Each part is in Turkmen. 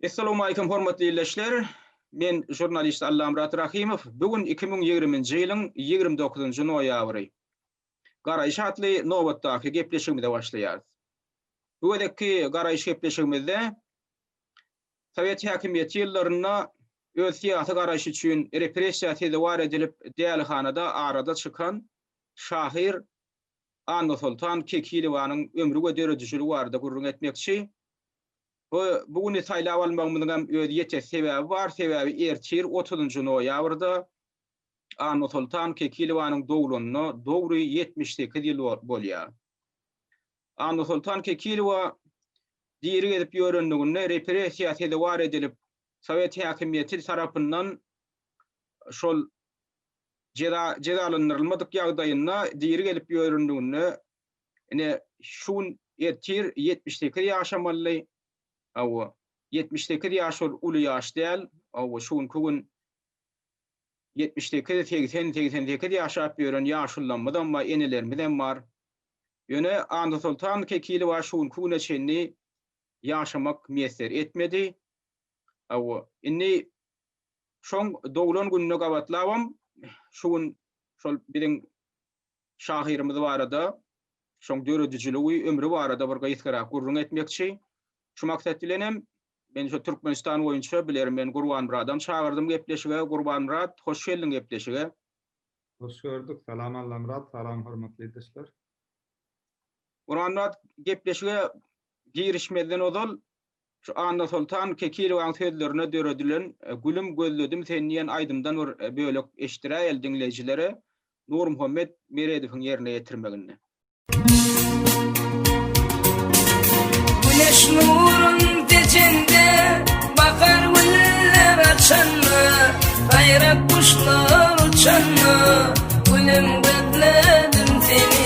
Essalawmalikim hormatly ildeşler! Men žurnalist Allamyrat Rahymow. Bu gün iki müň ýigriminji ýylyň ýigrimi dokuzynjy noýabry. Garaýyş atly nobatdaky gepleşigimize başlaýarys. Bu gezekki garaýyş gepleşigimizde sowet häkimiýeti ýyllarynda öz syýasy garaýşy üçin repressiýa sezewar edilip dälihanada arada çykan şahyr Annasoltan Kekilowanyň ömri we döredijiligi barada gürrüň etmekçi. Bu bu güni saýlap almagymyzyň hem öz ýetersi sebäbi bar, sebäbi ertir, otuzynjy noýabrda Annasoltan Kekilowanyň doglanyna dogry ýetmiş sekiz ýyl bolýar. Annasoltan Kekilowa diri gezip ýörenliginde repressiýa sezewar edilip, sowet häkimiýeti tarapyndan şol Jeza jezalandyrylmadyk ýagdaýynda diri gelip ýörendiginde, ine, şu gün ertir ýetmiş sekiz ýaşa mally, hawa, ýetmiş sekiz ýaş ol uly ýaş däl, hawa, şu günki gün ýetmiş sekiz, segsen, segsen sekiz ýaşap ýören ýaşulylarymyzam bar, enelerimizem bar. Ýöne Annasoltan Kekilowa şu günki güne çenli ýaşamak miýesser etmedi. Hawa, indi Şoň doglan gününe gabatlabam şu gün şol biziň şahyrymyz barada, şoň döredijiligi, ömri barada bir gysgarak gürrüň etmekçi. Şu maksat bilenem men şu Türkmenistan boýunça bilermen Gurbanmyradam çagyrdym gepleşige. Gurbanmyrat, hoş geldiň gepleşige. Hoş gördük. Salam Allamyrat, salam hormatly ildeşler. Gurbanmyrat, gepleşige girişmezden ozal Şu Annasoltan Kekilowaň sözlerine döredilen Gülüm gözledim seni diýen aýdymdan bir bölek eşitdiräýeli diňleýjilere Nurmuhammet Meredowyň ýerine ýetirmeginde. Güneş nurun dejende Bahar güller açanda Baýrak guşlar uçanda Gülüm gözledim seni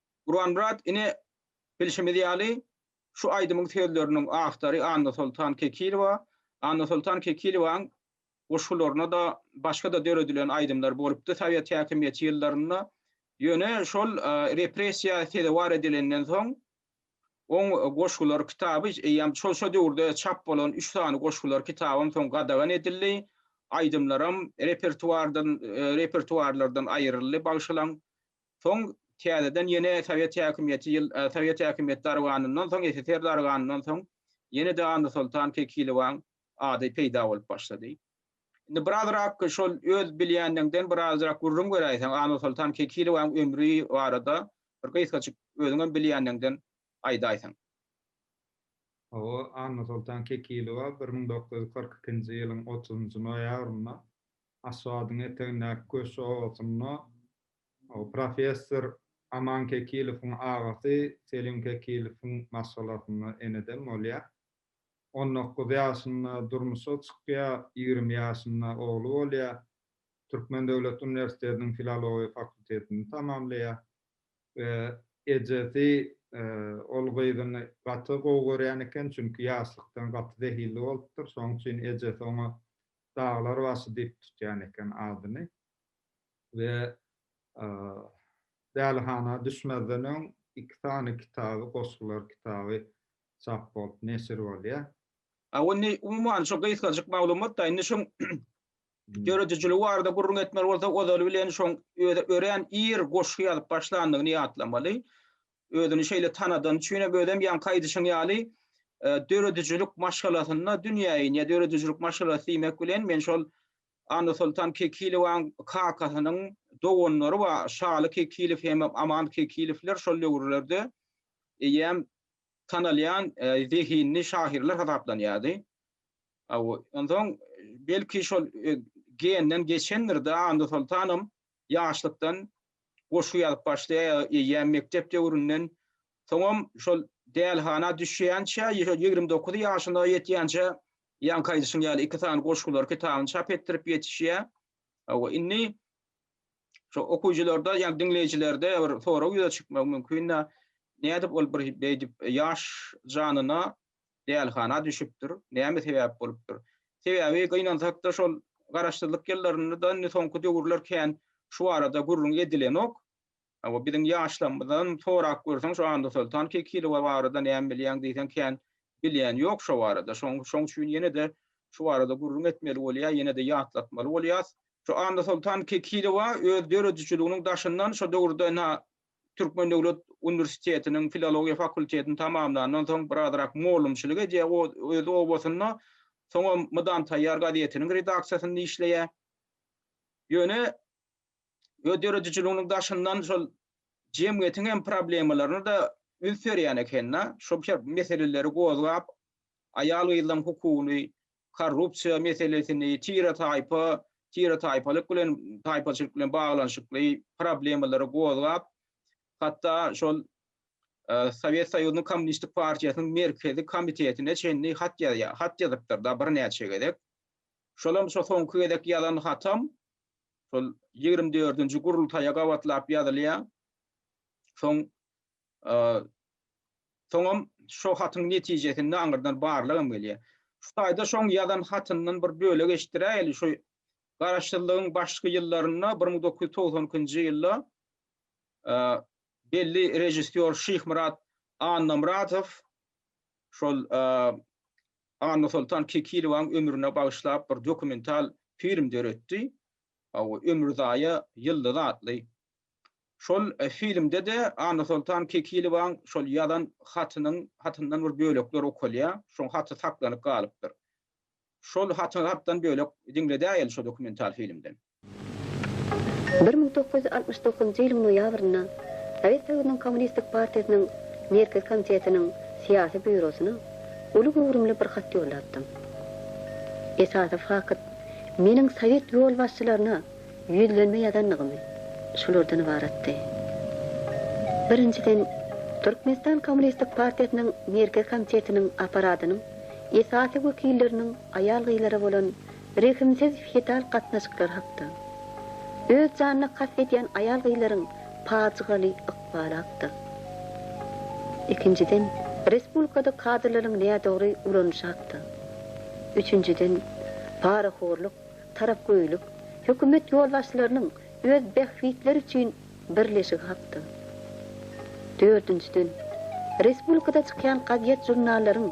Gurbanmyrat ine bilşimiz ýaly şu aýdymyň sözleriniň awtory Annasoltan Kekilowa, Annasoltan Kekilowanyň goşgularyna-da başga-da döredilen aýdymlar bolupdy sowet häkimiýeti ýyllarynda, ýöne şol repressiýa sezewar edilenden soň oň goşgular kitaby eýýäm şol şo döwürde çap bolan üç sany goşgular kitabam soň gadagan edildi, aýdymlaram repertuardan repertuarlardan aýryldy bagşylaň Soň täzeden ýene sowet häkimiýeti ýyl sowet häkimiýeti darganyndan soň SSR darganyndan soň ýene-de Annasoltan Kekilowaň ady peýda bolup başlady. Indi birazrak şol öz bilýänligiňden birazrak gürrüň beräýseň Annasoltan Kekilowaň ömri barada bir gysgajyk özüňem bilýänligiňden aýdaýsaň. Hawa, Annasoltan Kekilowa bir müň dokuz ýüz kyrk ikinji ýylyň otuzynjy noýabrynda Aşgabadyň etegindäki Köşi obasynda Professor Aman Kekilowyň agasy Selim Kekilowyň maşgalasynda enedem bolýar. On dokuz ýaşynda durmuşa çykýar, ýigrimi ýaşynda ogly bolýar. Türkmen döwlet uniwersitetiniň filologiýa fakultetini tamamlaýar we ejesi ol gyzyny gaty gowy görýän eken, çünki ýaşlykdan gaty zehilli bolupdyr, şonuň üçin ejesi oňa Daglar başy diýip tutýan eken adyny. we dälihana düşmezden öň iki sany kitaby, goşgular kitaby çap bolup neşir bolýar. A indi umuman şu gysgajyk maglumat-da, indi şuň döredijiligi barada gürrüň etmeli bolsak, ozaly bilen şoň özi örän ir goşgy ýazyp başlandygyny ýatlamaly. Özüni şeýle tanadany üçin hem, özem ýaňky aýdyşyň ýaly, döredijilik maşgalasynda dünýä inýär. Döredijilik maşgalasy diýmek bilen men şol Annasoltan Kekilowanyň kakasynyň doganlary bar, Şaly Kekilow hem Aman Kekilowlar şol döwürlerde eýýäm tanalýan zehinli şahyrlar hasaplanýardy. Onsoň belki şol genden geçendir-de, Annasoltanam ýaşlykdan goşgy ýazyp başlaýar, eýýäm mekdep döwründen. Soňam şol dälhana düşýänçä, ýüz ýigrimi dokuz ýaşyna ýetýänçä Ýaňky aýdyşyň ýaly iki sany goşgular kitabyny çap etdirip ýetişýär. Hawa, indi şu okyjylarda, ýa diňleýjilerde bir sorag ýüze çykmagy mümkin, nädip ol bir beýdip ýaş janyna dälhana düşüpdir, näme sebäp bolupdyr? Sebäbi gynansak-da şol Garaşsyzlyk ýyllarynda-da, indi soňky döwürler kän şu barada gürrüň edilenok. Hawa, biziň ýaşlarymyzdan sorap görseň, şu Annasoltan Kekilowa barada näme bilýäň diýseň, kän bilýän ýok şo barada. Şoň, şoň üçin ýene-de şu barada gürrüň etmeli bolýar, ýene-de ýatlatmaly bolýas. Şu Annasoltan Kekilowa öz döredijiliginiň daşyndan şo döwürde na Türkmen döwlet uniwersitetiniň filologiýa fakultetini tamamlandan soň birazrak mugallymçylyk edýär o, öz obasynda. Soňam Mydam taýýar gazetiniň redaksiýasynda işleýär. Ýöne. öz döredijiliginiň daşyndan şol jemgyýetiň hem problemalaryna-da üns berýän eken-de, şol meseleleri gozgap, aýal-gyzlaryň hukugyny, korrupsiýa meselesini, tire-taýpa, tire-taýpalyk bilen, taýpaçylyk bilen baglanyşykly problemalary gozgap, hatda şol Sowet Soýuzynyň Kommunistik partiýasynyň Merkezi komitetine çenli hat ýazýar, hat ýazypdyr-da birnäçe gezek. Şolam şo soňky gezek ýazan hatam şol ýigrimi dördünji gurultaýa gabatlap ýazylýar. Soň soňam şo hatyň netijesinde aňyrdan barlag hem gelýär. Şu taýda şoň ýazan hatyndan bir bölek eşitdiräýeli, şu Garaşsyzlygyň başky ýyllarynda bir müň dokuz ýüz togsan ikinji ýylda belli režissýor Şyhmyrat Annamyradow şol Annasoltan Kekilowaň ömrüne bagyşlap bir dokumental film döretdi. Ömürzaýa ýyldyzy atly. Şol filmde-de Annasoltan Kekilowaň şol ýazan hatynyň hatyndan bir bölekler okalýar. Şoň haty saklanyp galypdyr. Şol haty hatdan bölek diňledäýeli şo dokumental filmden. Bir müň dokuz ýüz altmyş dokuzynjy ýylyň noýabrynda Sowet Soýuzynyň Kommunistik partiýasynyň Merkezi komitetiniň Syýasy býurosyna uly göwrümli bir hat ýollapdym. Esasy fakt, meniň sowet ýolbaşçylaryna ýüzlenme ýazandygym şulardan ybaratdy. Birinjiden, Türkmenistan Kommunistik partiýasynyň Merkezi komitetiniň apparatynyň esasy wekilleriniň aýal-gyzlara bolan Rehimsiz feodal gatnaşyklary hakda. Öz janyna kast edýän aýal-gyzlaryň pajygaly ykbaly hakda. Ikinjiden, respublikada kadrlaryň nädogry ulanyşy hakda. Üçünjiden, parahorlyk, tarapgöýlik, hökümet ýolbaşçylarynyň öz bähbitleri üçin Birleşigi hakda. Dördünjiden, respublikada çykýan gazet-žurnallaryň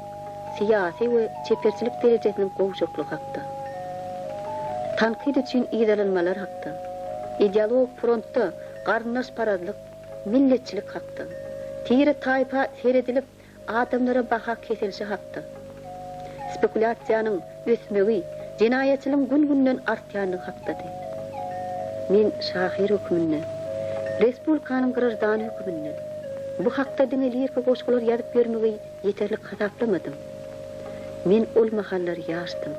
syýasy we çeperçilik derejesiniň gowşaklygy hakda. Tankyt üçin yzalanmalar hakda. Ideologik frontda garyndaşparazlyk, milletçilik hakda. Tire-taýpa seredilip, Adamlara baha kesilişi hakda. Spekulýasiýanyň ösmegi jenaýatçylygyň gün-günden artýandygy hakdady. Men şahyr hökmünde, respublikanyň graždany hökmünde bu hakda diňe liriki goşgular ýazyp ýörmegi ýeterlik hasaplamady. Men ol mahallar ýaşdym.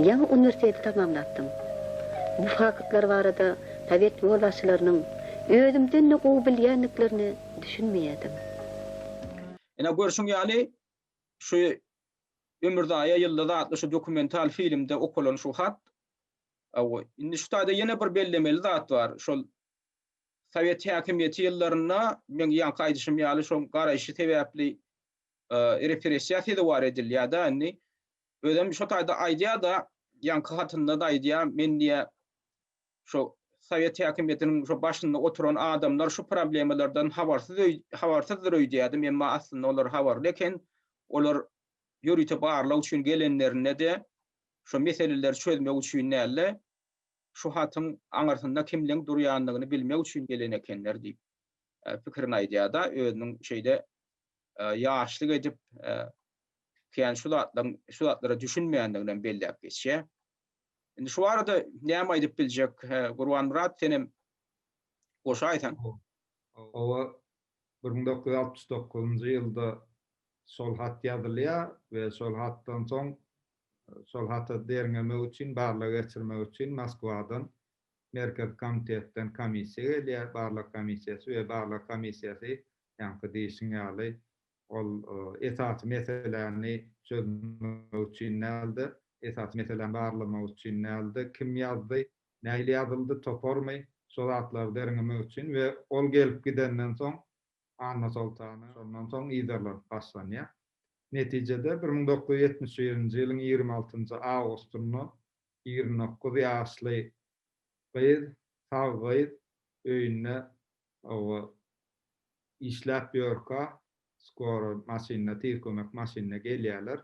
Ýaňy uniwersiteti tamamlapdym. Bu faktlar barada sowet ýolbaşçylarynyň özümden-de gowy bilýändiklerini düşünmeýärdim. Ine, görşüň ýaly, şu Ömürzaýa Ýyldyz atly şu dokumental filmde okalan şu hat, Hawa, indi şu taýda ýene bir bellemeli zat bar. Şol sowet häkimiýeti ýyllarynda, meň ýaňky aýdyşym ýaly, şoň garaýşy sebäpli repressiýa sezewar edilýär-de indi. Özem şo taýda aýdýar-da, ýaňky hatynda-da aýdýar, Men diýýär, şu sowet häkimiýetiniň şu başynda oturan adamlar şu problemalardan habarsyz öý habarsyzdyr öýdýädim, emma aslynda olar habarly eken. Olar ýörite barlag üçin gelenlerinde-de şu meseleleri çözmek üçin däl-de, şu hatyň aňyrsynda kimleň durýandygyny bilmek üçin gelen ekenler diýip, pikirini aýdýar-da, özüniň şeýle ýaşlyk edip, kän şu zatlaryň şu zatlara düşünmeýändiginem belläp geçýär. Indi şu barada näme aýdyp biljek? Gurbanmyrat senem goşaýsaň. Hawa, bir müň dokuz ýüz altmyş dokuzynjy ýylda şol hat ýazylýar we şol hatdan soň şol hata derňemek üçin, barlag geçirmek üçin Moskwadan Merkezi komitetden komissiýa gelýär, barlag komissiýasy we barlag komissiýasy ýaňky diýşiň ýaly Ol esasy meseläni çözmek üçin däldi, esasy meseläni barlamak üçin däldi, kim ýazdy, nähili ýazyldy, toparmy, şo zatlary derňemek üçin we ol gelip gidenden soň Annasoltana şondan soň yzarlar başlanýar. Netijede bir müň dokuz ýüz ýetmiş birinji ýylyň ýigrimi altynjy awgustynda ýigrimi dokuz ýaşly gyz, sag gyz öýünde Hawa, işläp ýörka, skora maşynda, tiz kömek maşynda gelýärler.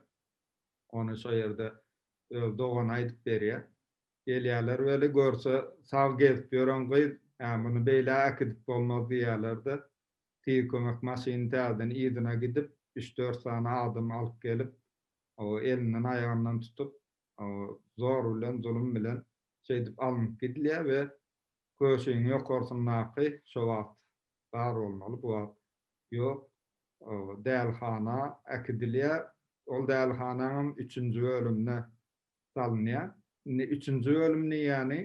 Ony şo ýerde öz dogany aýdyp berýär. Gelýärler weli, görse, sag gezip ýören gyz, Hä, muny beýle äkidip bolmaz diýýärler-de, tiz kömek maşyny täzeden yzyna gidip, üç-dört sany adam alyp gelip, hawa, elinden-aýagyndan tutup, hawa, zor bilen, zulum bilen şeýdip alnyp gidilýär we Köşiň ýokarsyndaky şo wagt bar bolmaly bu wagt ýok dälihana äkidilýär ol dälihanaňam üçünji bölümine salynýar indi üçünji bölüm diýýäni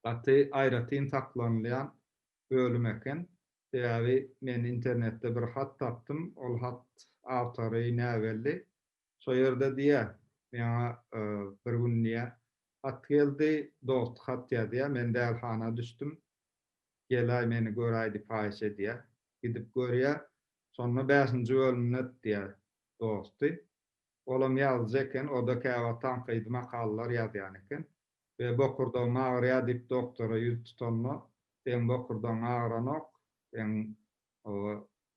gaty aýratyn saklanylýan bölüm eken sebäbi men internetde bir hat tapdym ol hat awtory näbelli Şo ýerde diýýä, meňa bir gün diýýä, hat geldi, dost hat ýazýa, men dälhana düşdüm, gel-aý meni gör-aý diýip haýyş edýä. Gidip görýä, şonda bäşinji bölümde diýýä, dosty. Olam ýazyjy eken, o-da käwagt tankydy makalalar ýazýan eken. We bokurdagym agyrýa diýip doktora ýüz tutanda, seň bokurdagyň agyranok, seň oba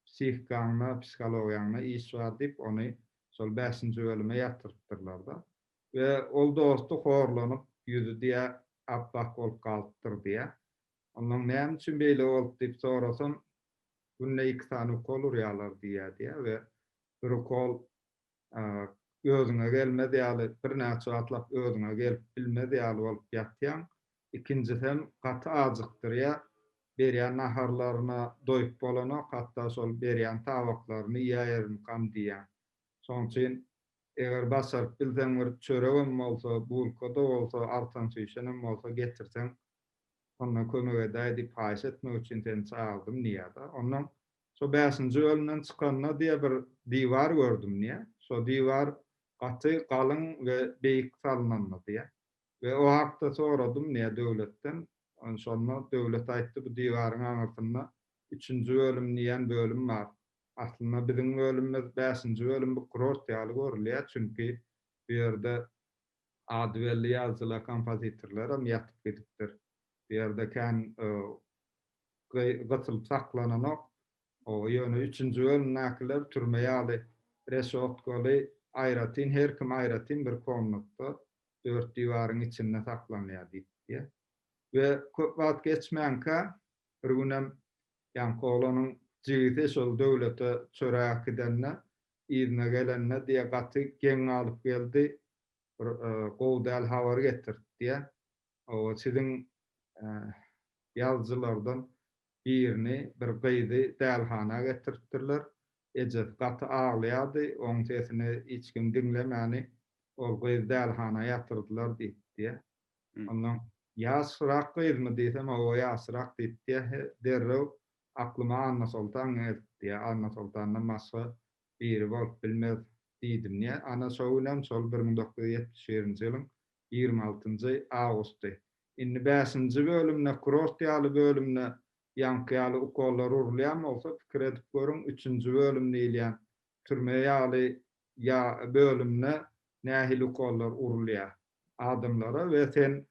psihikaňda, psihologiýaňda iş bar diýip, ony şol bäşinji bölüme ýatyrypdyrlar-da. We ol dosty horlanyp, ýüzi diýä ap-ak bolup galypdyr diýä. Ondan näme üçin beýle bolup diýip sorasam, günde iki sany ukol urýarlar diýýär diýä we bir ukol özüňe gelmez ýaly, birnäçe wagtlap özüňe gelip bilmez ýaly bolup ýatýaň. Ikinjisi hem gaty ajykdyrýar. Berýän naharlaryna doýup bolanok, hatda şol berýän tabaklaryny iýäýerimkam diýýäň. Şonuň üçin eger başaryp bilseň bir çöregem bolsa, bulka-da bolsa, artansüýşenem bolsa getirseň, onda kömek edäý diýip haýyş etmek üçin seni çagyrdyň diýýär-de. Onnoň Şo bäşinji bölümden çykanda diýýär bir diwar gördüm diýýär. Şo diwar gaty galyň we beýik salnandy diýýär. We o hakda soradym diýýär döwletden. Şonda döwlet aýtdy bu diwaryň aňyrsynda üçünji bölüm diýýän bölüm bar. Aslynda biziň bölümimiz bäşinji bölüm bu kurort ýaly görülýär çünki bu ýerde Ady belli ýazyjylar, kompozitorlar hem ýatyp gidipdir. Bu ýerde kän gysylyp saklananok. Ýöne üçünji bölümdäkiler türme ýaly reşotkaly, aýratyn, her kim aýratyn bir komnatda, dört diwaryň içinde saklanýar diýipdir. We köp wagt geçmänkä bir günem ýaňky oglanyň jigisi şol Döwlete çörä äkidende yzyna gelende diýýär gaty geň galyp geldi bir gowy däl habar getirdi diýýär oba siziň ýazyjylardan birini bir gyzy dälhana getiripdirler ejesi gaty aglaýardy oň sesini hiç kim diňlemäni ol gyzy dälhana ýatyrdylar diýipdi diýýär ondan ýaşrak gyzmy diýsem oba ýaşrak diýipdi diýýär derrew Aklyma Annasoltan gelipdi, ýa Annasoltandan başga biri bolup bilmez diýdim. Ýa, ana, şo günem, şol bir müň dokuz ýüz ýetmiş birinji ýylyň ýigrimi altynjy awgusty. Indi bäşinji bölümde, kurort ýaly bölümde ýaňky ýaly ukollar urulýan bolsa, pikir edip görüň, üçünji bölüm diýilýän türme ýaly ýa bölümde nähili ukollar urulýar adamlara we sen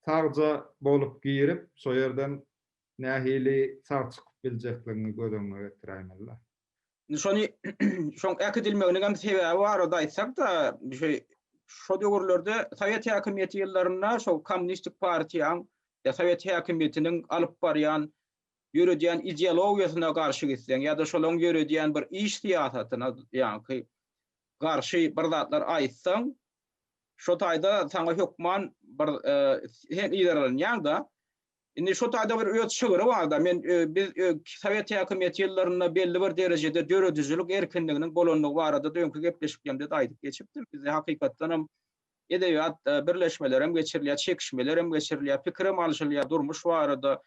sagja bolup girip, şo ýerden nähili sag çykyp biljekligiňi göz öňüňe getiräýmeli-le. Indi şony şoň äkidilmeginiňem sebäbi barada aýtsak-da, şeý, şo döwürlerde sowet häkimiýeti ýyllarynda şo Kommunistik partiýaň ýa sowet häkimiýetiniň alyp barýan, ýöredýän ideologiýasyna garşy gitseň ýa-da şolaryň ýöredýän bir iş syýasatyna ýaňky garşy bir zatlar aýtsaň, şo taýda saňa hökman bir sen yzarlanýaň-da. Indi şu taýda bir öz şygry barda, men biz sowet häkimiýeti ýyllarynda belli bir derejede döredijilik erkinliginiň bolandygy barada-da öňki gepleşiklerimde-de aýdyp geçipdim. Bizde hakykatdan hem edebiýat birleşmeleri hem geçirilýär, çekişmeler hem geçirilýär, pikir hem alşylýar, durmuş barada,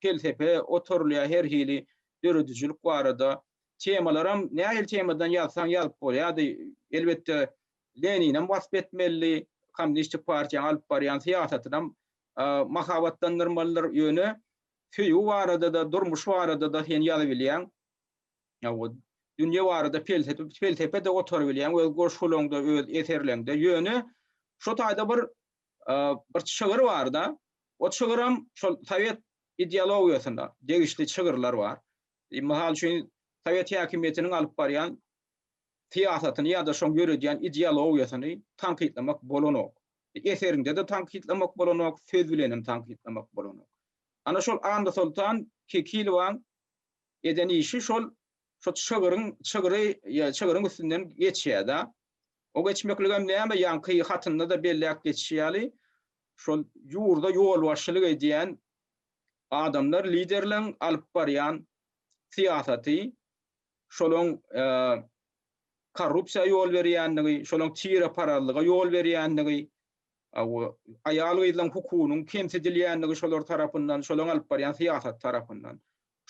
pelsepe oturylýar, her hili döredijilik barada temalar hem nähili temadan ýazsaň ýazyp bolýardy. Elbetde, Lenini hem wasp etmelidi, Kommunistik partiýanyň alyp barýan syýasatynam mahabatlandyrmalydyr, ýöne söýgi barada-da, durmuş barada-da sen ýazybilýäň. Dünýe barada pelsepe-de gotarybilýäň öz goşgularyňda, öz eserleňde. Ýöne şu taýda bir bir çygyr bar-da, o çygyram şol sowet ideologiýasyna degişli çygyrlar bar. Mysal üçin, sowet häkimiýetiniň alyp barýan syýasatyny ýa-da şoň ýöredýän ideologiýasyny tankytlamak bolanok. Eseriňde-de tankytlamak bolanok, söz bilenem tankytlamak bolanok. Ana şol Annasoltan Kekilowaň eden işi şol şo çygryň çygry çygryň üstünden geçýär-de. O geçmekligem näme, ýaňky hatynda-da belläp geçişi ýaly, şol ýurda ýolbaşçylyk edýän adamlar, liderleň alyp barýan syýasaty, şolaň korrupsiýa ýol berýändigi, şolaň tire parazlyga ýol berýändigi, aýal-gyzlaň hukugynyň kemsidilýändigi şolar tarapyndan, şolaň alyp barýan syýasaty tarapyndan.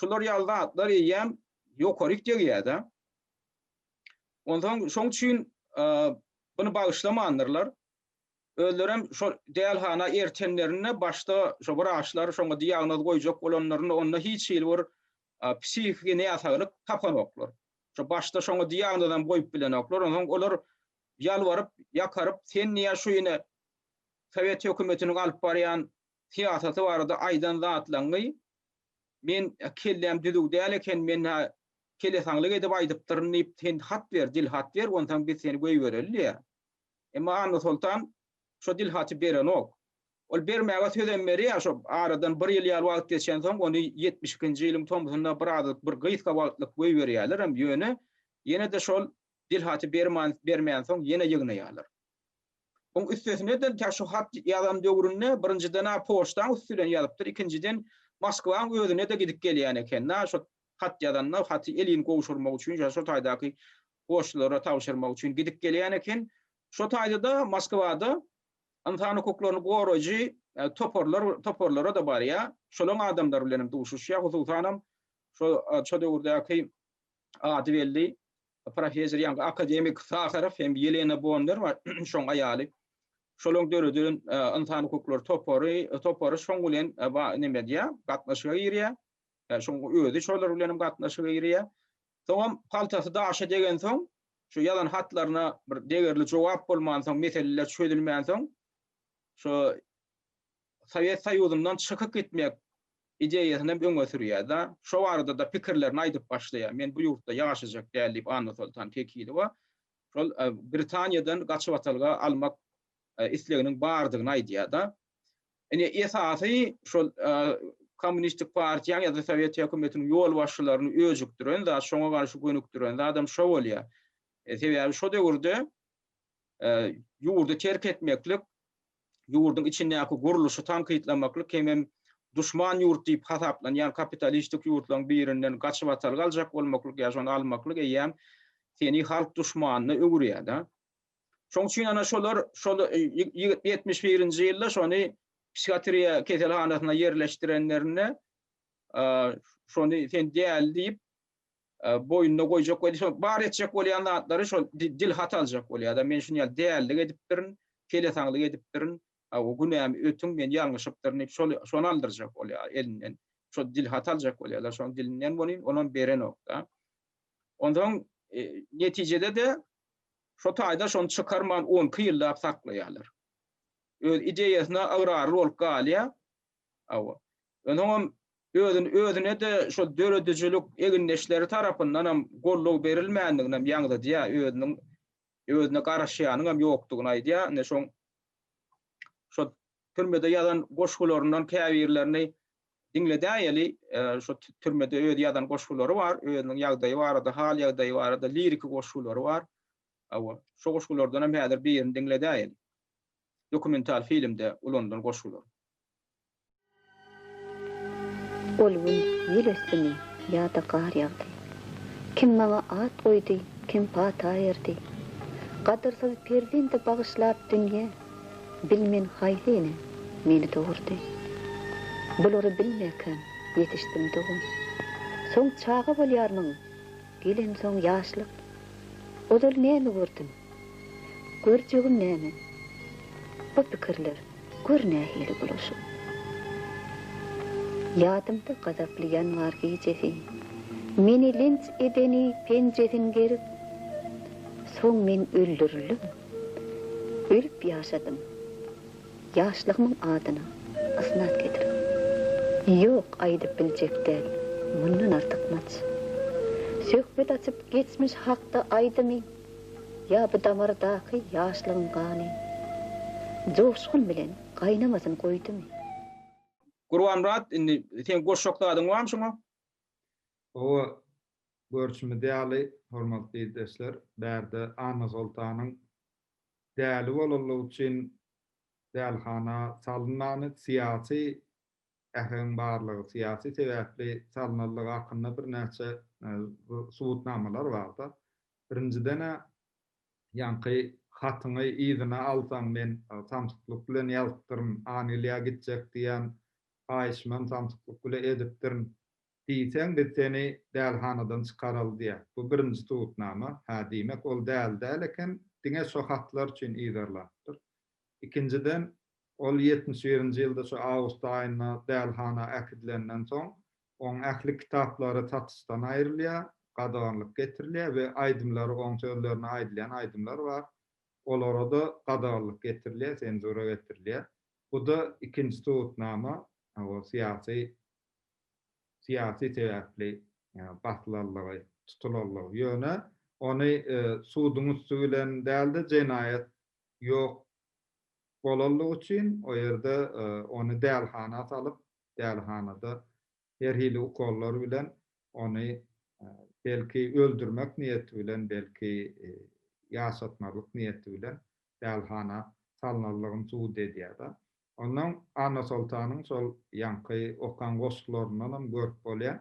Şular ýaly zatlar eýýäm ýokaryk degýär-de. Onsoň şoň üçin buny bagyşlamandyrlar. Özlerem şo dälhana ertenlerinde başda şo wraçlar şoňa diagnoz goýjak bolanlarynda onda hiç hili bir psihiki näsaglyk tapanoklar. Şo başda şoňa diagnozam goýup bilenoklar. Onsoň olar ýalbaryp, ýakaryp, sen niýe şu ine sowet hökümetiniň alyp barýan syýasaty barada aýdan zatlaňňy men kelläm düzüw däl eken, men kelesaňlyk edip aýdypdyryn diýip, sen hat ber, dilhat ber, onsoň biz seni goýbereli diýýär. Emma Annasoltan Şo dilhaty berenok. Ol bermäge sözem berýär, şo aradan bir ýyl ýaly wagt geçensoň, ony ýetmiş ikinji ýylyň tomsunda birazajyk bir gysga wagtlyk goýberýärlerem, ýöne ýene-de şol dilhaty berman bermänsoň ýene ýygnaýarlar. Oň üstesine-de tä şu hat ýazan döwründe birinjiden-ä poçtaň üsti bilen ýazypdyr, ikinjiden Moskwaň özüne-de gidip gelýän eken-dä, şo hat ýazanda haty elin gowşurmak üçin, ýa şo taýdaky poçtalara tabşyrmak üçin gidip gelýän eken. Şu taýda-da Moskwada ynsan hukuklaryny goraýjy toparlar, toparlara-da barýar, şolaň adamlary bilen hem duşuşýar, hususanam şo, şo döwürdäki ady belli professor, ýaňky akademik Saharow hem Ýelena Bonner bar, şoň aýaly. Şolaň döreden ynsan hukuklary topary, topary şoň bilen neme edýär, gatnaşyga girýär. Şoň özi şolar bilen hem gatnaşyga girýär. Soňam paltasy daşa degensoň, şu ýazan hatlaryna bir degerli jogap bolmansoň, meseleler çözülmänsoň, şu Sowet Soýuzyndan çykyp gitmek ideýasynam öňe sürýär-de, şo barada-da pikirlerini aýdyp başlaýar. Men bu ýurtda ýaşajak däl diýip, Annasoltan Tekilowa şol Britaniýadan gaçybatalga almak isleginiň bardygyny aýdýar-da. Ine, esasy şol Kommunistik partiýanyň ýa-da Sowet hökümetiniň ýolbaşçylaryny öjükdiren zat, şoňa garşy gönükdiren zadam şo bolýar. E, sebäbi şo döwürde e, ýurdy terk etmeklik, ýurduň içindäki gurluşy tankytlamaklyk hemem duşman ýurt diýip hasaplanýan kapitalistik ýurtlaryň birinden gaçybatalga aljak bolmaklyk ýa şony almaklyk eýýäm seni halk duşmanyna öwürýär-de. Şoň üçin ana şolar şol ýetmiş birinji ýylda şony psihiatriýa keselhanasyna ýerleşdirenlerinde şony sen däli diýip boýnuna goýjak we şol bar etjek bolýan zatlary şol dilhat aljak bolýar-da men şuny ýaly dälilik edipdirin, kelesaňlyk edipdirin, o günämi ötüň men ýalňyşypdyryn diýip şol şony aldyrjak bolýar elinden. Şol dilhat aljak bolýarlar şoň dilinden welin onam berenok-da. Onsoň netijede-de Şo taýda şony çykarman on iki ýyllap saklaýarlar. Öz ideýasyna ygrarly bolup galýar. Hawa. Onsoňam özüni özüne-de şol döredijilik egindeşleri tarapyndanam goldaw berilmändiginem ýaňzydýar. Özüniň özüne garaşýanyňam ýokdugyny aýdýar. Ine şoň şo türmede ýazan goşgularyndan käbirlerini diňledäýeli. Şu türmede öz ýazan goşgulary bar, özüniň ýagdaýy barada, hal-ýagdaýy barada liriki goşgulary bar. Hawa, şu goşgulardan hem häzir birini diňledäýeli. Dokumental filmde ulanylan goşgular. Ol gün ýel ösdümi ýa-da gar ýagdy. Kim maňa at goýdy, kim pata berdi. Gadyrsyz perzendi bagyşlap dünýe, Bilmen haýsy ene meni dogurdy. Bulary bilmekäm ýetişdim dogan. Soň çaga bolýarmyň, gelensoň ýaşlyk. Ozal näme gördüm, Gör jigim näme? Bu pikirler gör nähili bulaşyk. Ýadymda gazaply ýanwar gijesi. Meni linç edeni penjesin gerip, soň men öldürildim. Ölüp ýaşadym. Ýaşlygymyň adyna ysnat getirip. Ýok, aýdyp biljek däl mundan artykmaç. Söhbet açyp geçmiş hakda aýdymy Ýa bu damardaky ýaşlygyň gany joşgun bilen gaýnamasyn goýdumy? Gurbanmyrat, indi seň goşjak zadyň barmy şoňa? Hawa, görşümiz ýaly, hormatly ildeşler, bärde Annasoltanyň däli bolanlygy üçin dälihana salynmany, syýasy Äheňiň barlygy syýasy sebäpli salnandygy hakynda birnäçe subutnamalar barda. Birinjiden-ä, ýaňky hatyňy yzyna alsaň, men samsyklyk bilen ýazypdyryn, Angliýa gitjek diýýän haýyşymam samsyklyk bile edipdirin diýseň, biz seni dälhanadan çykararys diýýär. Bu birinji subutnama. Hä, diýmek, ol däli däl eken, diňe şo hatlar üçin yzarlanypdyr. Ikinjiden, ol ýetmiş birinji ýylda şu awgust aýynda dälhana äkidilenden soň, oň ähli kitaplary satyşdan aýrylýar, gadaganlyk getirilýär we aýdymlary, oň sözlerine aýdylýan aýdymlar bar, olara-da gadaganlyk getirilýär, senzura getirilýär. Bu-da ikinji subutnama, ol syýasy, syýasy sebäpli basylanlygy, tutulanlygy. Ýöne ony suduň üsti bilen däl-de, jenaýat ýok bolanlygy üçin o ýerde ony dälihana salyp, dälihanada her hili ukollar bilen ony belki öldürmek niýeti bilen, belki ýaşatmazlyk niýeti bilen dälihana salnanlygyny subut edýär-de. Onnoň Annasoltanyň şol ýaňky okan goşgularyndanam görüp bolýar.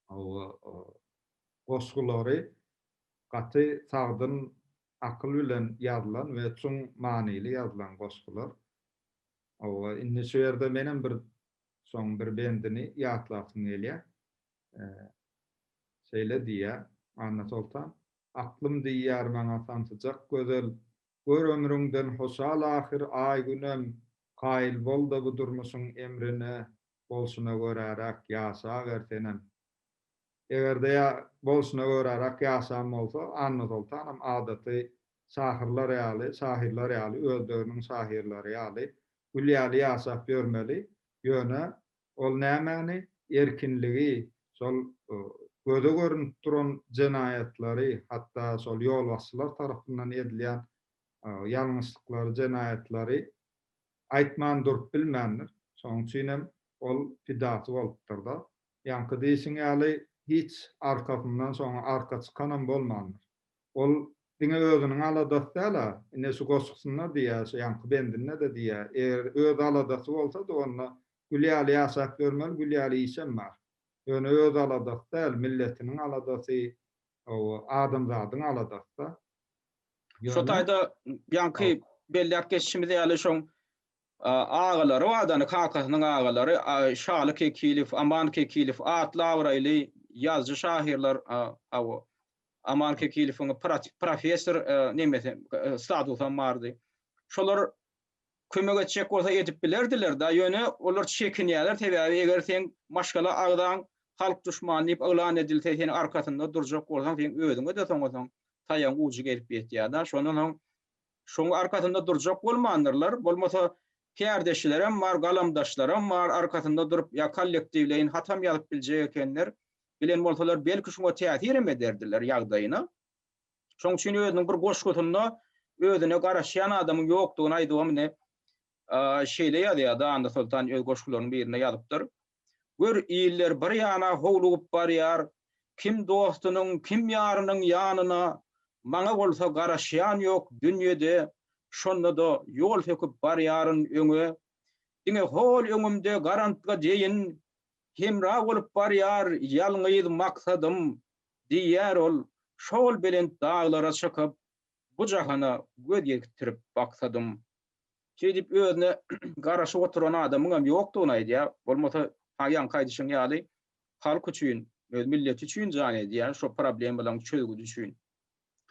Hawa, goşgulary gaty sagdyn akyl bilen ýazylan we çuň manyly ýazylan goşgular. Hawa, indi şu ýerde menem bir şoň bir bendini ýatlasym gelýär. Şeýle diýýär Annasoltan. Aklym diýýär maňa sansyjak gözel, Gör ömrüňden hoşal ahyr aý-günem, Kaýyl bol-da bu durmuşyň emrine, Bolşuna göräräk ýaşaber senem. Eger-de ýa bolşuna göräräk ýaşan bolsa, Annasoltanam adaty şahyrlar ýaly, şahyrlar ýaly, öz döwrüniň şahyrlary ýaly, gül ýaly ýaşap ýörmeli, ýöne ol nämäni, erkinligi, şol göze görünip duran jenaýatlary, hatda şol ýolbaşçylar tarapyndan edilýän ýalňyşlyklary, jenaýatlary Aýtman durup bilmändir. Şonuň üçinem ol pidasy bolupdyr-da. Ýaňky diýşiň ýaly, hiç arkasyndan şoňa arka çykanam bolmandyr. Ol diňe özüniň aladasy däl-ä. Ine, şu goşgusynda diýýär, şu ýaňky bendinde-de diýýär, eger öz aladasy bolsady, onda gül ýaly ýaşap ýörmeli, gül ýaly işem bar. Ýöne öz aladasy däl, milletiniň aladasy, o, adamzadyň aladasy-da. Şo taýda ýaňky belläp geçişimiz ýaly şoň agalary bardyny, kakasynyň agalary Şaly Kekilow, Aman Kekilow atly abraýly ýazyjy şahyrlar Aman Kekilowyň professor nemesi statusam bardy. Şolar kömek etjek bolsa edip bilerdiler da ýöne olar çekinýäler sebäbi eger seň maşgala agzaň halk duşmany diýip yglan edilse sen arkasynda durjak bolsaň seň özüňe de soňa soň taýagyň ujy gelip ýetýär da şondan soň şoň arkasynda durjak bolmandyrlar bolmasa kärdeşilerem bar galamdaşlaram bar arkasynda durup ýa kollektiwleýin hatam ýazyp biljek ekenler bilen bolsalar belki şuňa täsirem ederdiler ýagdaýyna. Şoň üçin özüniň bir goşgusynda özüne garaşýan adamyň ýokdugyny aýdybam ine, şeýle ýazýar, Danda Soltan öz goşgularynyň birinde ýazypdyr. Gör, iller bir ýana howlugyp barýar, kim dostunyň, kim ýarynyň ýanyna, maňa bolsa garaşýan ýok dünýede, şonda-da ýol söküp barýaryn öňe. Diňe hol öňümde garantga deýin, hemra bolup barýar ýalňyz maksadym, Diýýär ol, Şol belent daglara çykyp, Bu jahana göz ýetirip baksadym. Şeýdip özüne garaşyp oturan adamyňam ýokdugyny aýdýar. Bolmasa, ha ýaňky aýdyşyň ýaly, halk üçin, öz milleti üçin jan edýär, şo problemalaryň çözgüdi üçin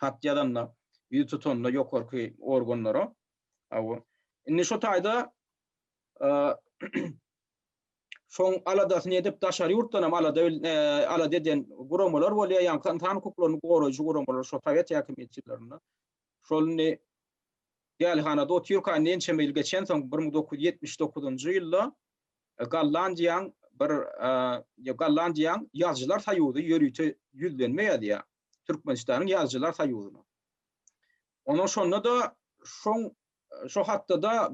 hat ýazanda, ýüz tutanda ýokarky organlara. Hawa. Indi şu taýda Şoň aladasyny edip daşary ýurtdanam alada alada eden guramalar bolýar, ýaňky ynsan hukuklaryny goraýjy guramalar şo sowet häkimiýeti ýyllarynda. Şol indi dälhanada otyrka indi ençeme ýyl geçensoň bir müň dokuz ýüz ýetmiş dokuzynjy ýylda Gollandiýaň bir Gollandiýaň ýazyjylar soýuzy ýörite ýüzlenme ýazýar Türkmenistanyň ýazyjylar soýuzyna. Onuň şonda-da şoň Şo hakda-da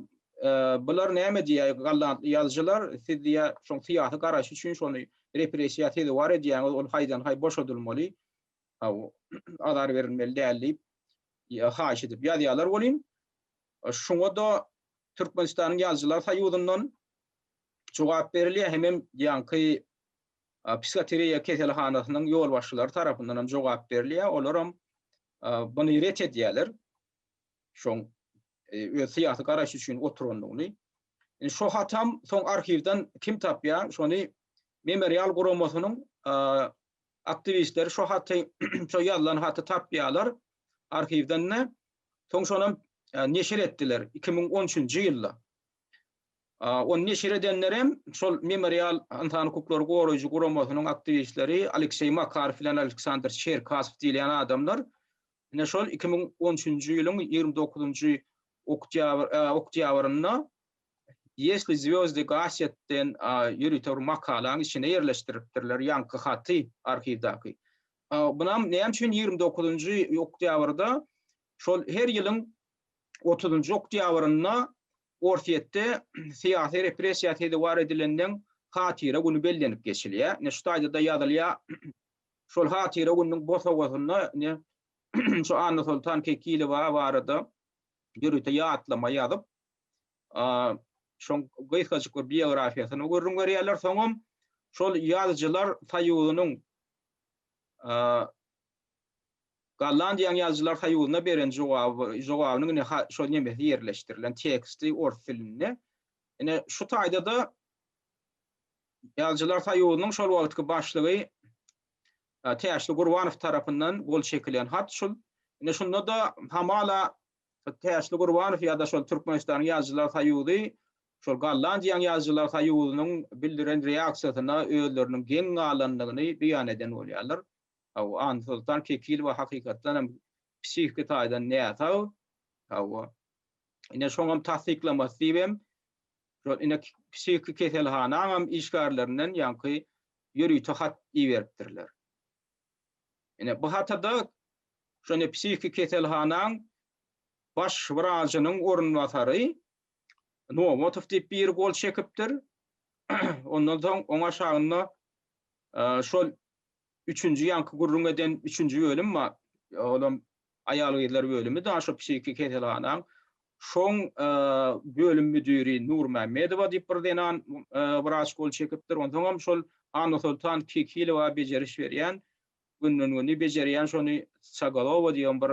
Bular näme diýýär, galantly ýazyjylar, siz diýýär, şoň syýasy garaýşy üçin şony repressiýa sezewar edýäňiz, ol haýdan-haý boşadylmaly, haw, azar berilmeli däl diýip, haýyş edip ýazýarlar welin, şuňa-da Türkmenistanyň Ýazyjylar soýuzyndan jogap berilýär, hemem ýaňky psihoteriýa keselhanasynyň ýolbaşçylary tarapyndanam jogap berilýär, olaram buny ret edýärler. şoň öz syýasy garaýşy üçin oturandygyny. Indi şo hatam soň arhiwden kim tapýar, şony Memorial guramasynyň aktiwistleri şo haty, şo ýazylan haty tapýarlar arhiwden-de. Soň şonam neşir etdiler 2013-nji ýylda. Ony neşir edenler hem şol Memorial ynsan hukuklary goraýjy guramasynyň aktiwistleri Alekseý Makarow bilen Aleksandr Çerkasow diýilýän adamlar. Ine şol iki müň on üçünji ýylyň ýigrimi dokuzynjy oktýabr oktýabrynda Ýesli zwýozdy gasýet den ýörite bir makalaň içine ýerleşdiripdirler ýaňky haty arhiwdaky. Bunam näme üçin ýigrimi dokuzynjy oktýabrda şol her ýylyň otuzynjy oktýabrynda Orsýetde syýasy repressiýa sezewar edileniň hatyra güni bellenip geçilýär. Ine şu taýda-da ýazylýar. Şol hatyra gününiň bosagasynda ine, şu Annasoltan Kekilowa barada ýörite ýatlama ýazyp, şoň gysgajyk bir biografiýasyny gürrüň berýärler. Soňam şol Ýazyjylar soýuzynyň Gollandiýanyň Ýazyjylar soýuzyna beren jogaby, jogabynyň ine, şol nemesi ýerleşdirilen teksti ors dilinde. Ine, şu taýda-da Ýazyjylar soýuzynyň şol wagtky başlygy Täşli Gurbanow tarapyndan gol çekilen hat şul. Ine şunda-da hamala Täşli Gurbanow ýa-da şol Türkmenistanyň Ýazyjylar soýuzy şol Gollandiýanyň Ýazyjylar soýuzynyň bildiren reaksiýasyna özleriniň geň galandygyny beýan eden bolýarlar. Hawa, Annasoltan Kekilowa hakykatdan hem psihiki taýdan näsag. Hawa. Ine şoňam tassyklamasy diýibem Şol ine psihiki keselhanaňam işgärlerinden ýaňky ýörite hat iberipdirler. Ine bu hatada şu ine psihiki keselhanaň baş wrajynyň orunbasary Nowatow diýip biri gol çekipdir. Ondan soň oň aşagynda şol Üçünji ýaňky gürrüň eden üçünji bölüm bar. Olam aýal-gyzlar bölümi daş o psihiki keselhanaň. Şoň bölüm müdiri Nurmämmedowa diýip bir zenan wraç gol çekipdir. Onsoňam şol Annasoltan Kekilowa bejeriş berýän. Günden-güni bejerýän şony Çagalowa diýen bir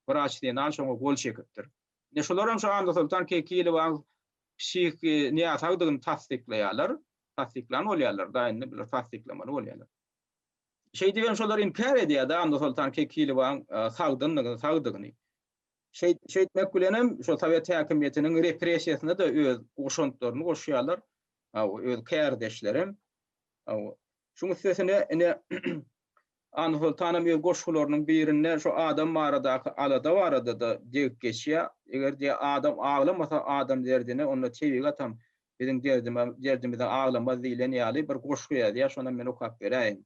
wraç zenan şoňa gol çekipdir. Ine şolaram şu Annasoltan Kekilowaň psihiki näsagdygyny tassyklaýarlar. tassyklany bolýarlar-da, indi bular tassyklamaly bolýarlar. Şeýdip hem şolar inkär edýär-de Annasoltan Kekilowaň sagdyndygyny, sagdygyny. Şeýtmek bilen hem şol sowet häkimiýetiniň repressiýasyna-da öz goşantlaryny goşýarlar, öz kärdeşlerem. Şuň üstesine ine Annasoltanam öz goşgularynyň birinde şu adam baradaky alada barada-da degip geçýär, Eger diýýär, adam aglamasa adam derdine, onda tebigatam Biziň derdime derdimize aglamaz diýlen ýaly bir goşgy ýazýar, şonam men okap beräýin.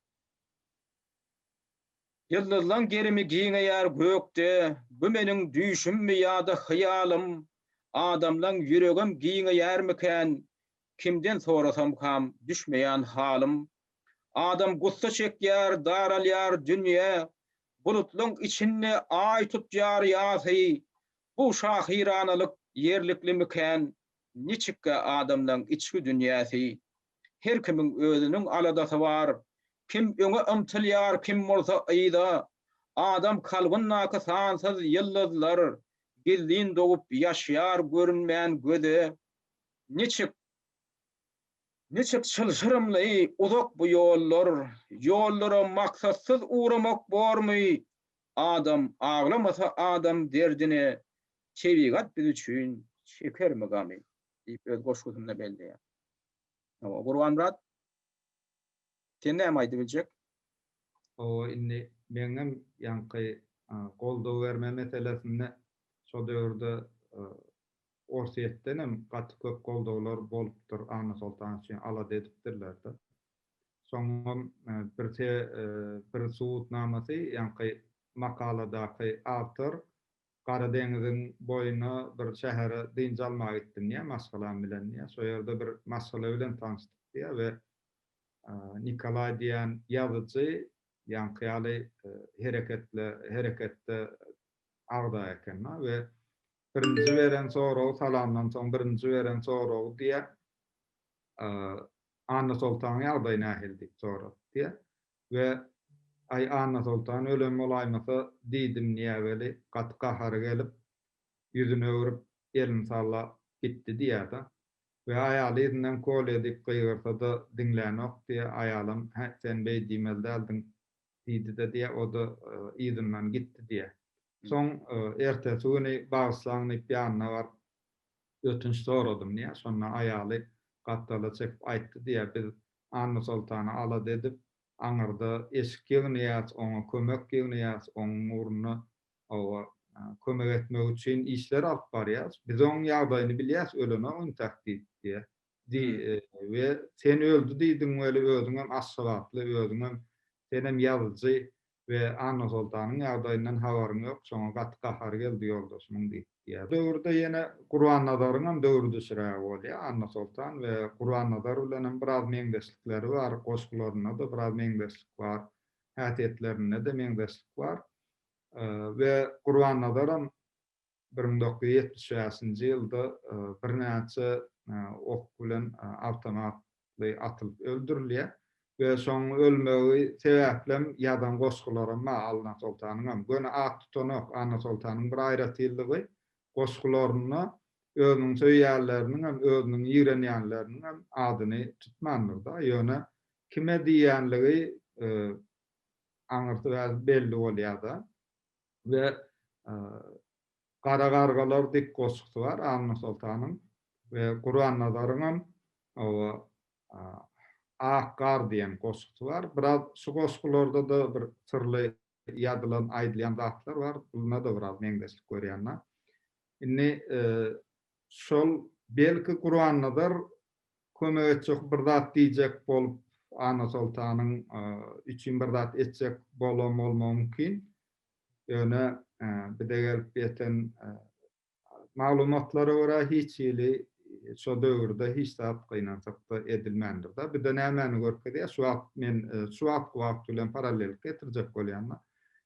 Ýyldyzlaň gerimi giňeýär gökde, Bu meniň düýşümmi ýa-da hyýalym? Adamlaň ýüregem giňeýärmikän, Kimden sorasamkam, düşmeýän halym. Adam gussa çekýär, daralýar dünýe, Bulutlaň içinde Aý tutýar ýasy. Bu şahyranalyk ýerliklimikän, Niçikkä adamlaň içki dünýäsi? Her kimiň özüniň aladasy bar. Kim öňe ymtylýar, kim bolsa yza. Adam kalbyndaky sansyz ýyldyzlar, gizlin dogup ýaşýar görünmän göze. Niçik, niçik çylşyrymly, uzak bu ýollar. Ýollara maksatsyz ugramak bormy? Adam aglamasa adam derdine, Tebigat biz üçin çekermi gamy? diýip öz goşgusynda belleýär. Hawa, Gurbanmyrat, sen näme aýdyp biljek? Hawa, indi meň hem ýaňky goldaw berme meselesinde şo döwürde Orsýetden hem gaty köp goldawlar bolupdyr, Anna Soltanowa üçin alada edipdirler-de. Soňam bir bir subutnamasy, ýaňky makaladaky awtor Gara deňiziň boýuna bir şähere dynç almaga gitdim diýýär, maşgalam bilen diýýär. Şo ýerde bir maşgala bilen tanyşdyk diýýär we Nikolaý diýýän ýazyjy ýaňky ýaly hereketli hereketde agza eken we birinji beren soragy salamdan soň birinji beren soragy diýýär Annasoltanyň ýagdaýy nähili diýip sorapdyr diýýär. we Aý Annasoltan ölen bolaýmasa diýdim diýýär weli gaty gahary gelip ýüzüni öwrüp elini sallap gitdi diýýärde we aýaly yzyndan Kolýa diýip gygyrsada diňlänok diýýär aýalam hä sen beý diýmeli däldiň diýdide diýýär oda yzyndan gitdi diýýär soň ertesi güni bagyşlaň diýip ýanyna baryp ötünç soradym diýýär şonda aýaly gapdala çekip aýtdy diýýär biz Annasoltana alada edip, aňyrda eşik ýygnaýas, oňa kömek ýygnaýas, onuň ugrunda oba kömek etmek üçin işler alyp barýas. Biz onuň ýagdaýyny bilýäs, ölenok intäk diýip diýýär. Di, we sen öldi diýdiň weli, özüňem aşgabatly, özüňem, senem ýazyjy, we Annasoltanyň ýagdaýyndan habaryň ýok, şoňa gaty gahary geldi ýoldaşymyň diýip, diýýär. Döwürde ýene Gurbannazaryňam döwri düşürägi bolýar. Annasoltan we Gurbannazar bilenem biraz meňzeşlikleri bar, goşgularynda-da biraz meňzeşlik bar, häsiýetlerinde-de meňzeşlik bar we Gurbannazaram bir müň dokuz ýüz ýetmiş bäşinji ýylda birnäçe ok bilen awtomatly atylyp öldürilýär we şoň ölmegi sebäplem ýazan goşgularam bar Anna Soltanyňam. Göni at tutanok. Anna Soltanyň bir aýratynlygy, goşgularynda özüniň söýýänleriniňem, özüniň ýigrenýänleriniňem adyny tutmandyr-da. Ýöne kime diýýänligi aňyrsy belli bolýar-da. we Gara gargalar diýip goşgusy bar Annasoltanyň we Gurannazaryňam oba Ak gar diýen goşgusy bar. Biraz şu goşgularda-da bir syrly ýazylan, aýdylýan zatlar bar. Bunda-da biraz meňzeşlik görýän men. Indi şol belki Gurannazar kömek etjek bir zat diýjek bolup Annasoltanyň üçin bir zat etjek bolam bolmagy mümkin. Ýöne bize gelip ýeten maglumatlara görä hiç hili şo döwürde hiç zat gynansakda edilmändir-de. Bu da nämäni görkezýär? Şu wagt men şu wagtky wagt bilen parallellik getirjek bolýan-da.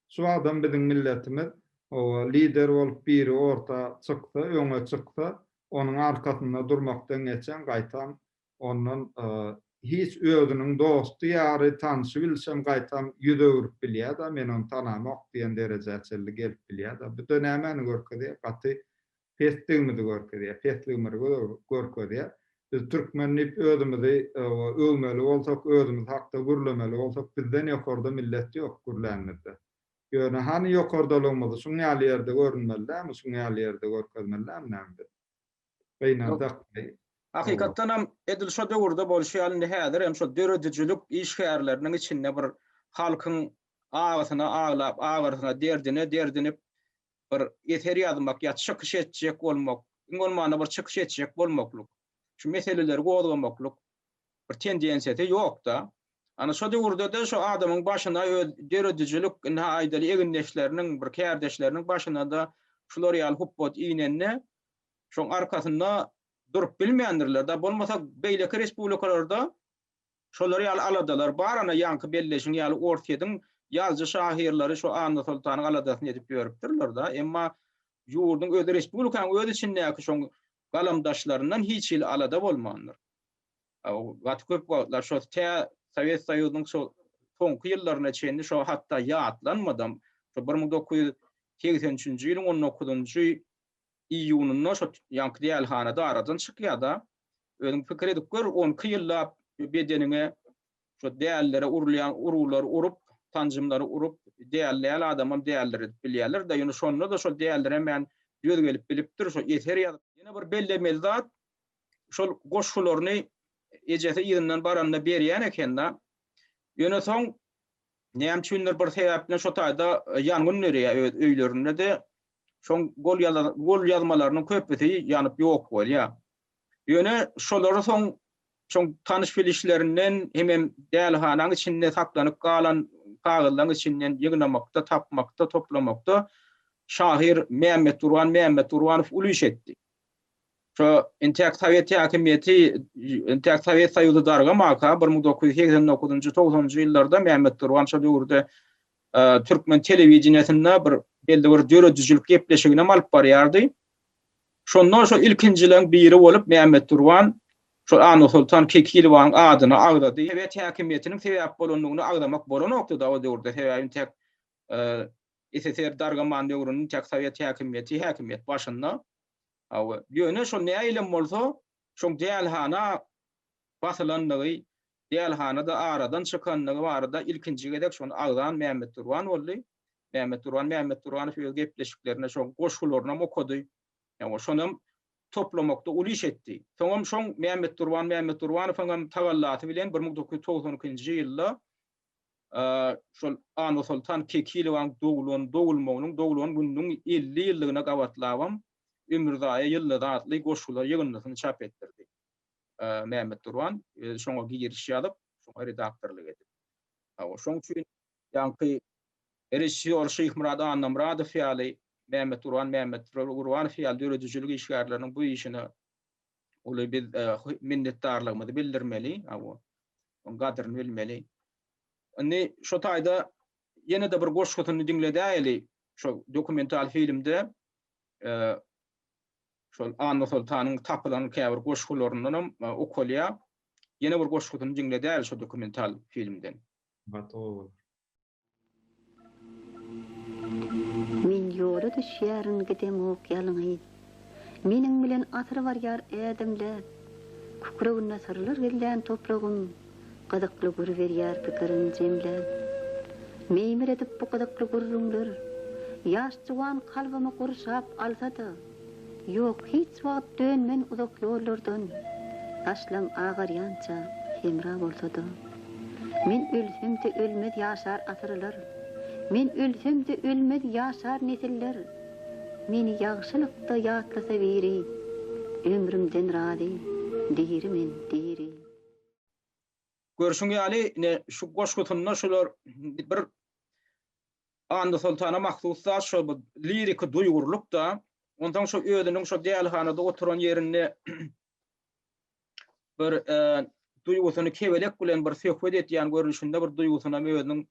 Şu wagtam biziň milletimiz lider bolup biri orta çyksa, öňe çyksa, Onuň arkasynda durmakdan geçen gaýtam ondan hiç özüniň dosty ýary tanşy-bilşem gaýtam ýüz öwrüp bilýäda men ony tanamok diýen derejä çenli gelip bilýäda bu-da nämäni görkezýä gaty pesdigimizi görkezýä pesligimrgi görkezýä biz türkmen diýip özümizi öwmeli bolsak özümiz hakda gürlemeli bolsak bizden ýokarda millet ýok gürlänimizde Ýöne hany ýokardalygymyzy şuň ýaly ýerde görünmeli dälmi, şuň ýaly ýerde görkezmeli dälmi näme biz? Gynansak beý. Hakykatdan hem edil şo döwürde bolşy ýaly indi häzir hem şo döredijilik işgärleriniň içinde bir halkyň agysyna aglap, agyrysyna, derdine derdinip bir eser ýazmak ýa çykyş etjek bolmak, iň bolmanda bir çykyş etjek bolmaklyk, şu meseleleri gozgamaklyk bir tendensiýasy ýok-da. Ana şo döwürde-de şo adamyň başyna öz döredijilik, indi ha aýdaly egindeşleriniň, bir kärdeşleriniň başyna-da şular ýaly hupbat inende, şoň arkasynda durup bilmändirler-dä. Bolmasa beýleki respublikalarda Şolar ýaly aladalar bar, ana ýaňky belleşiň ýaly Orsýetiň ýazyjy şahyrlary şu Anna Soltanyň aladasyny edip ýörüpdirler da, emma ýurduň özi respublikanyň öz içindäki şoň galamdaşlaryndan hiç hili alada bolmandyr. Gaty köp wagtlar şo tä Sowet Soýuzynyň şo soňky ýyllaryna çenli şo hatda ýatlanmadam, şo bir müň dokuz ýüz segsen üçünji ýylyň on dokuzynjy iýunynda şo ýaňky dälhanada aradan çykýar-da. Özüň pikir edip gör, on iki ýyllap bedeniňe şo dällere urulýan uruglar urup, sanjymlary urup, däl däl adamam däldir edip bilýärler-de. Ýöne şonda-da şol däldir hemen döz gelip bilipdir, şo eser ýazyp. Ýene bir bellemeli zat, şol goşgularyny ejesi yzyndan baranda berýän eken-de. Ýöne soň näme üçindir bir sebäp bilen şo taýda ýangyn dörýär öz öýlerinde-de, Şoň golýazmalarynyň köpüsi ýanyp ýok bolýar. Ýöne şolary soň şoň tanyş-bilişlerinden hemem dälihanaň içinde saklanyp galan kagyzlaryň içinden ýygnamakda, tapmakda, toplamakda şahyr Mämmetgurban Mämmetgurbanow uly iş etdi. Şo intäk sowet häkimiýeti, intäk sowet soýuzy dargamaka bir müň dokuz ýüz segsen dokuzynjy, togsanynjy ýyllarda Mämmet Turgan şo döwürde türkmen telewideniýesinde bir belli bir döredijilik gepleşiginem alyp barýardy. Şonda şo ilkinjileň biri bolup Mämmet Turgan şo Annasoltan Kekilowanyň adyny agzady. Sowet häkimiýetiniň sebäp bolandygyny agzamak bolanokdy-da o döwürde, sebäbi intäk SSR dargaman döwrüniň täk sowet häkimiýeti häkimiýet başynda. Hawa, ýöne şol näilem bolsa, şoň dälhana basylandygy, dälhana-da aradan çykandygy barada ilkinji gezek şony agzan Mämmet Durban boldy. Mämmet Durban Mämmetdurganow öz gepleşiklerinde şoň goşgularynam okady. Hawa, şonam toplamakda uly iş etdi. Soňam şoň Mämmet Durban Mämmetdurbanowyňam tagallasy bilen bir müň dokuz ýüz togsan ikinji ýylda şol Annasoltan Kekilowaň doglan, dogulmagynyň, doglan gününiň elli ýyllygyna gabatlabam Ömürzaýa ýyldyzy atly goşgular ýygyndysyny çap etdirdi. Mämmet Durban özi şoňa giriş ýazyp, şoňa redaktorlyk edip. Hawa, şoň üçin ýaňky režissýor Şyhmyrat Annamyradow ýaly, Mämmet Durban Mämmetgurbanow ýaly döredijilik işgärleriniň bu işine uly biz minnetdarlygymyzy bildirmeli, oň gadryny bilmeli. Indi şu taýda ýene-de bir goşgusyny diňledäýeli, şu dokumental filmde şol Annasoltanyň tapylan käbir goşgularyndan hem okalýar. Ýene bir goşgusyny diňledäýeli şu dokumental filmden. Gotow bolar. Men ýola düşýärin gidemok ýalňyz. Meniň bilen asyr barýar ädimläp. Kükreginde syrlar gizlän topragym gyzykly gür berýär pikirin jemläp. Meýmir edip bu gyzykly gürrüňler ýaş juwan kalbymy gurşap alsa-da. Ýok, hiç wagt dönmen uzak ýollardan, Başlam agarýança hemra bolsa-da. Men ölsem-de ölmez ýaşar asyrlar, Men ölsem-de ölmez ýaşar nesiller. Meni ýagşylykda ýatlasa biri, Ömrümden razy, diri men, diri. Görşüň ýaly, ine, şu goşgusynda şular bir Annasoltana mahsus zat şo bu liriki duýgurlyk-da. Onsoň şo özüniň şo dälhanada oturan ýerinde bir duýgusyny kebelek bilen bir söhbet edýän görnüşinde bir duýgusynam özüniň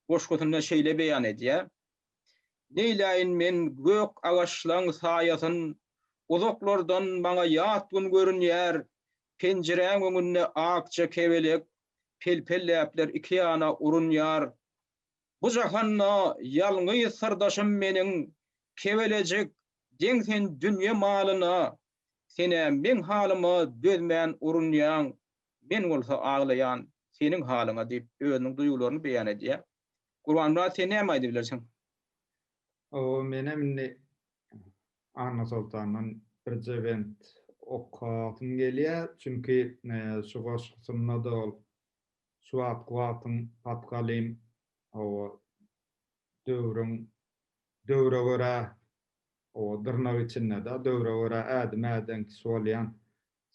goşgusynda şeýle beýan edýär. Neýläýin men gök agaçlaň saýasyn, Uzaklardan maňa ýat gün görünýär, Penjiräň öňünde akja kebelek, Pelpelläpler iki ýana urunýar. Bu jahanda ýalňyz syrdaşym meniň Kebelejik deň sen dünýe malyna Sen-ä meň halyma dözmän urunýaň Men bolsa aglaýan seniň halyňa diýip özüniň duýgularyny beýan edýär. Gurbanmyrat sen näme aýdyp bilersiň? Hawa menem indi Annasoltandan birje bent okasym gelýär. Çünki şu goşgusynda-da ol Şu wagtky wagtyň patgalyň hawa döwrüň döwre görä hawa dyrnak içinde-dä döwre görä ädim äden kişi bolýan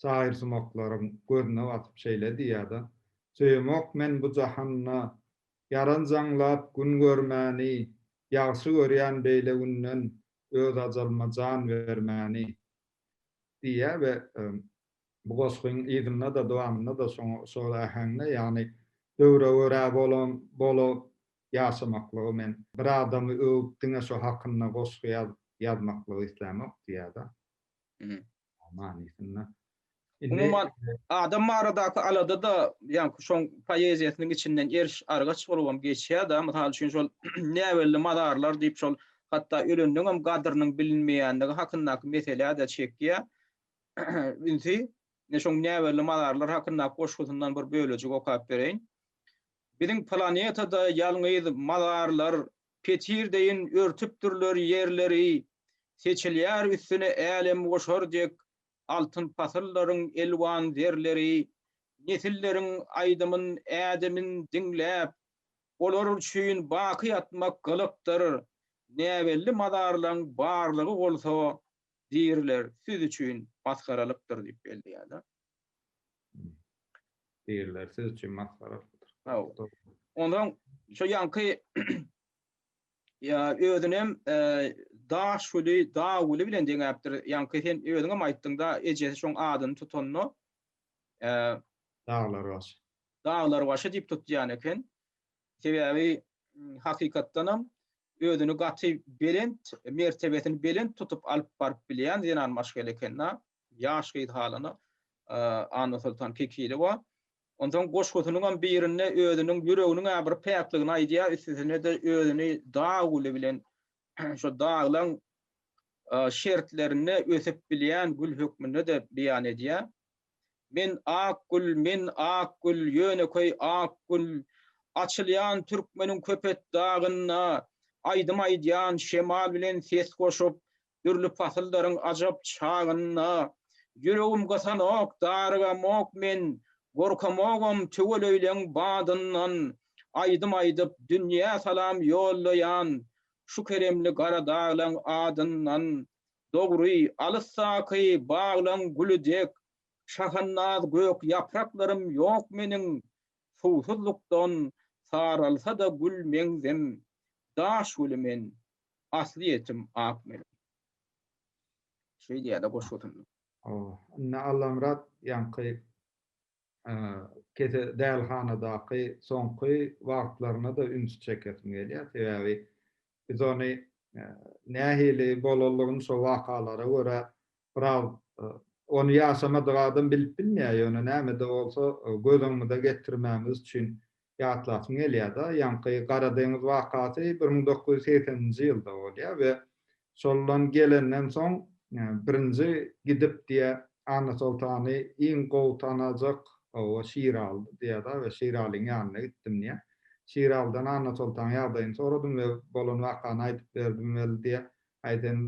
şahyrsumaklaryň gözüne batyp şeýle diýýär-de, Söýemok men bu jahanda ýaran jaňlap gün görmäni, Ýagşy görýän beýle günden öz ajalyma jan bermäni diýýär we Bu gosgyň yzynda-da, dowamynda-da şol äheňde, ýagny döwre görä bolan bola ýaşamaklygy men bir adamy öwüp diňe şo hakynda gosgy ýazmaklygy islämok diýýärda. Manysynda. Umuman adam baradaky alada-da ýaňky şoň poeziýasynyň içinden eriş argaç bolubam geçýärda. Mysal üçin şol näbelli mazarlar diýip şol hatda ölendeňem gadrynyň bilinmeýändigi hakyndaky meselä-de çekýär. ünsi. Ine şoň näbelli mazarlar hakyndaky goşgusyndan bir bölejik okap bereýin. Biziň planetada ýalňyz mazarlar petir deýin örtüpdirler ýerleri, seçilýär üstüne älemgoşar dek altyn pasyllaryň elwan zerleri. Nesilleriň aýdymyn, ädimini diňläp, olar üçin baky ýatmak gylykdyr. Näbelli mazarlaň barlygy bolsa Diriler siz üçin masgaralykdyr diýip belleýärler. Diriler siz üçin masgaralykdyr. Hawa. Ondan şu ýanky ýa özünem e, daş güli, dag güli bilen deňäpdir. Ýanky sen özüňem aýtdyňda ejesi şoň adyny tutanda e, Daglar baş. daglar başy diýip tutýan eken. Sebäbi hakykatdanam Özüni gaty belent, mertebesini belent tutup alyp baryp bilýän zenan maşgala ekeni. Ýaş gyz halyna Annasoltan Kekilowa. Onsoň goşgusynyňam birinde özüniň ýüreginiň-ä bir päkligini aýdýar, üstesine-de özüni dag güli bilen, şo daglaň şertlerinde ösüp bilýän gül hökmünde-de beýan edýär. Men ak gül, men ak gül, ýönekeý ak gül, Açylýan türkmeniň Köpetdagynda, Aýdym aýdýan şemal bilen ses goşup, Dürli pasyldaryň ajap çagynda. Ýüregim gysanok, darygamok men, Gorkamogam tüweleýleň badyndan. Aýdym aýdyp, dünýä salam ýollaýan, Şu keremli Garadaglaň adyndan. Dogry, alysdaky baglaň güli dek şahannaz gök ýapraklarym ýok meniň, Suwsuzlykdan saralsa-da gül meňzem, daş güli men, aslyýetim ak meniň. Şeýdýär-de goşgusynda. Ynha, Allamyrat ýaňky. kese dälhanadaky soňky wagtlaryna-da ünsi çekesim gelýär. Sebäbi biz ony nähili bolanlygyny şo wakalara görä biraz ony ýaşamadyk adam bilip bilmeýär, ýöne näme-de bolsa göz öňümize getirmämiz üçin ýatlasym gelýär-de, ýaňky Gara deňiz wakasy bir müň dokuz ýüz segsen nji ýylda bolýar we şoldan gelenden soň birinji gidip diýýä Annasoltany iň gowy tanajak oba Şiralydy diýýär-de we Şiralyň ýanyna gitdim diýýär. Şiralydan Annasoltanyň ýagdaýyny soradym we bolan wakany aýdyp berdim weli diýýär. Aý sen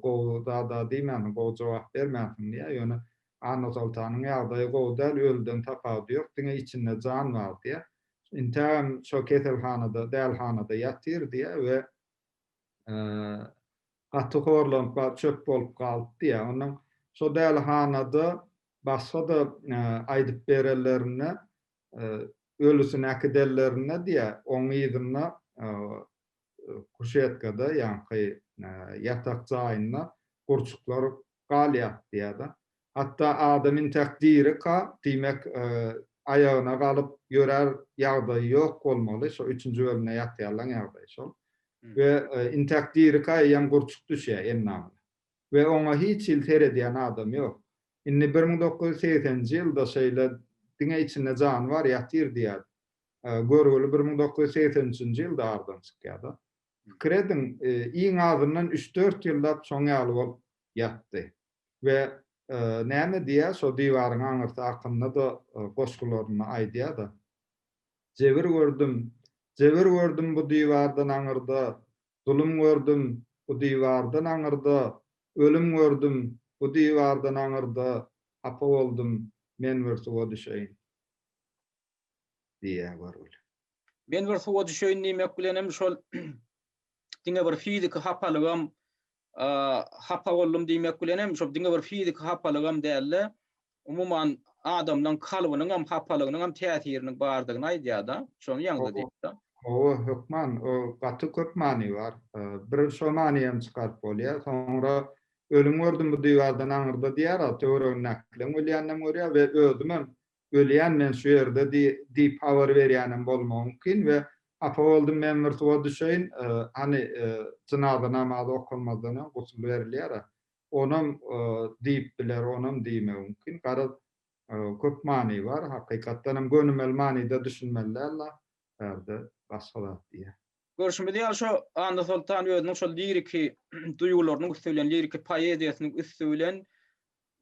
gowy zad-a diýmänsiň, gowy jogap bermänsiň diýýär, ýöne Annasoltanyň ýagdaýy gowy däl, ölüden tapawudy ýok, diňe içinde jan bar diýýär. Intägem şo keselhanada, dälhanada ýatyr diýýär we gaty horlanyp bar, çöp bolup galypdy diýýär. Ondan şo dälhanada başga-da aýdyp berenlerinde, ölüsini äkidenlerinde diýýär, oň yzynda kuşetkada, ýaňky ýatak jaýynda gurçuklar galýar diýýär-de. Hatda adam intäk dirika, diýmek, aýagyna galyp ýörär ýagdaýy ýok bolmaly, şo üçünji bölümde ýatýarlaň ýagdaýy şol. We intäk dirika eýýäm gurçuk düşýär endamyna. We oňa hiç hili seredýän adam ýok. Indi bir müň dokuz ýüz segsenji ýylda şeýle diňe içinde jany bar ýatyr diýýär. görgüli bir müň dokuz ýüz segsen üçünji ýylda aradan çykýar-da. Pikir ediň, iň azyndan üç-dört ýyllap şoň ýaly bolup ýatdy. We näme diýýär, şo diwaryň aňyrsy hakynda-da goşgularynda aýdýar-da. Jebir gördüm, jebir gördüm bu diwardan aňyrda, zulum gördüm bu diwardan aňyrda, ölüm gördüm bu diwardan aňyrda, hapa boldum, men bir suwa düşeýin. diýýär görgüli. Men bir suwa düşeýin diýmek bilenem şol diňe bir fiziki hapalygam hapa boldum diýmek bilenem şol diňe bir fiziki hapalygam däl-de, umuman adamlaň kalbynyňam hapalygynyňam täsiriniň bardygyny aýdýar-da, şony ýaňza diýipdir. Hawa, hökman, o gaty köp many bar. Bir şo many hem çykaryp bolýar. Soňra Ölüm gördüm bu diwardan aňyrda diýýär-a, töweregindäkileň ölýäninem görýär we özümem ölýän men şu ýerde diýip habar berýänem bolmagy mümkin we hapa boldum men bir suwa düşeýin hany jynaza namazy okalmazdan öň gusl berilýär-ä onam diýip biler onam diýmegi mümkin garaz köp many bar hakykatdanam gönümel manyda düşünmeli däl la bärde başga zat diýýär. Görşümiz ýaly şo Annasoltan özüniň şol liriki duýgularynyň üsti bilen liriki poeziýasynyň üsti bilen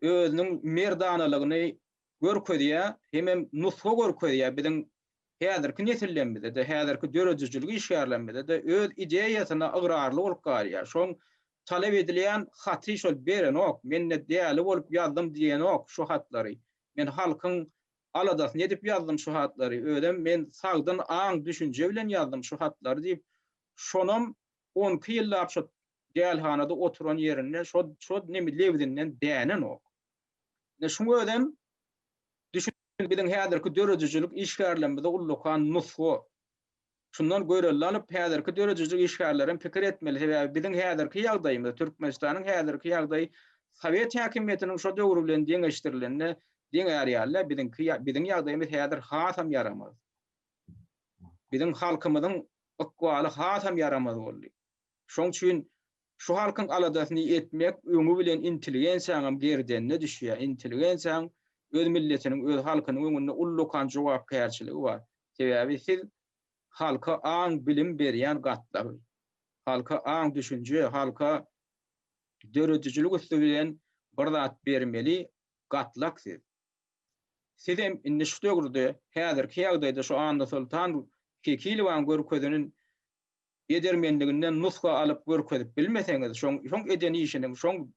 özüniň merdanalygyny görkezýär, hemem nusga görkezýär, biziň häzirki nesillerimize-de, häzirki döredijilik işgärlerimize-de öz ideýasyna ygrarly bolup galýar. Şoň talap edilýän haty şol berenok, men-de däli bolup ýazdym diýenok şu hatlary. Men halkyň aladasyny edip ýazdym şu hatlary, özem men sagdyn aň-düşünje bilen ýazdym şu hatlary diýip, şonam on iki ýyllap şo dälhanada oturan ýerinde şo lebzinden dänenok. Ine şuň özem düşündirýän biziň häzirki döredijilik işgärlerimize ullakan nusga. Şundan görelde alyp, häzirki döredijilik işgärleri hem pikir etmeli, sebäbi biziň häzirki ýagdaýymyz, Türkmenistanyň häzirki ýagdaýy sowet häkimiýetiniň şo döwri bilen deňeşdirilende deň ärýärler, biziňki biziň ýagdaýymyz häzir hasam ýaramaz. Biziň halkymyzyň ykbaly hasam ýaramaz boldy. Şoň üçin şu halkyň aladasyny etmek öňi bilen intelligensiýaňam gerdenine düşýär. Intelligensiýaň öz milletiniň, öz halkynyň öňünde ullakan jogapkärçiligi bar. Sebäbi siz halka aň, bilim berýän gatlagy, halka aň, düşünje, halka döredijilik üsti bilen bir zat bermeli gatlak siz. Sizem indi şu döwürde, häzirki ýagdaýda şu Annasoltan Kekilowaň görkezinin edermenliginden nusga alyp görkezip bilmeseňiz, şoň şoň eden işiniň, şoň